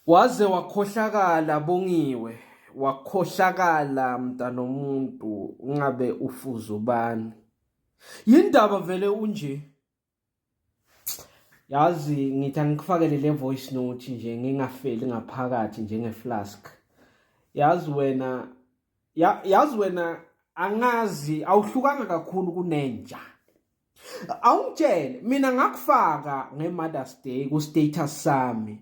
Waze wakhohlakala Bongiwe, wakhohlakala mntanomuntu ungabe ufuza ubani. Yindaba vele unje. Yazi ngithi angikufakele le voice note nje ngingafeli ngaphakathi njenge flask. Yazi wena yazi wena angazi awuhlukanga kakhulu kunenja. awungitshele mina ngakufaka nge-mothers day ku-status sami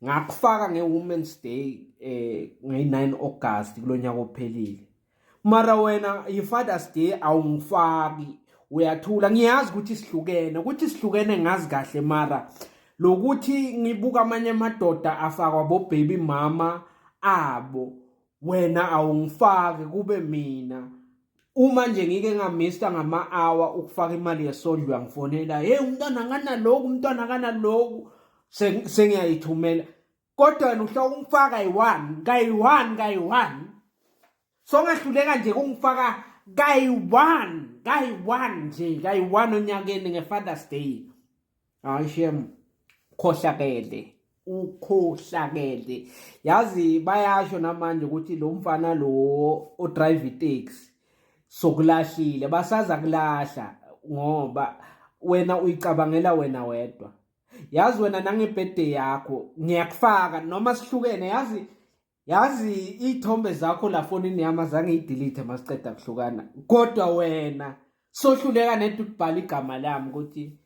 ngakufaka nge-women's day eh nge-9 august kulo nyaka ophelile mara wena yi-fathers day awungifaki uyathula ngiyazi ukuthi sihlukene ukuthi sihlukene ngazi kahle mara lokuthi ngibuka amanye amadoda afakwa bobaby mama abo wena awungifake kube mina uma nje ngike ngamista ngama-hour ukufaka imali yesondlo uyangifonela hey umntwana akanaloku umntwana akanaloku sengiyayithumela kodwa wena uhla ukungifaka kayi-one kayi-one kayi-one songahluleka nje kungifaka kayi-one kayi-one nje kayi-one onyakeni nge-fathers day hayi shem khohlakele ukhohlakele yazi bayasho namanje ukuthi lo mfana lo odrive itaxi sokulahlile basaza kulahla ngoba wena uyicabangela wena wedwa yazi wena nangebhede yakho ngiyakufaka noma sihlukene yazi yazi iy'thombe zakho la fonini yami azange iyidelete masiqeda kuhlukana kodwa wena sohluleka nento ukubhala igama lami ukuthi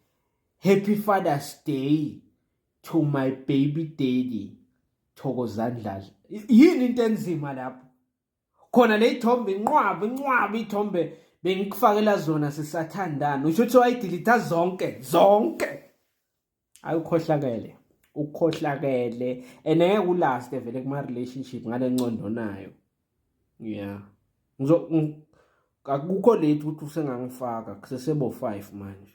happy father's day to my baby daddy thokozani dladla yini into enzima lapho khona le ithombe inqwaba inqwaba ithombe bengikufakela zona sisathandana usho ukuthi wayidilitha zonke zonke ayukhohlakele ukhohlakele and ngeke ulast vele kuma relationship ngale nqondo nayo yeah ngizo akukho late ukuthi usengangifaka kusesebo 5 manje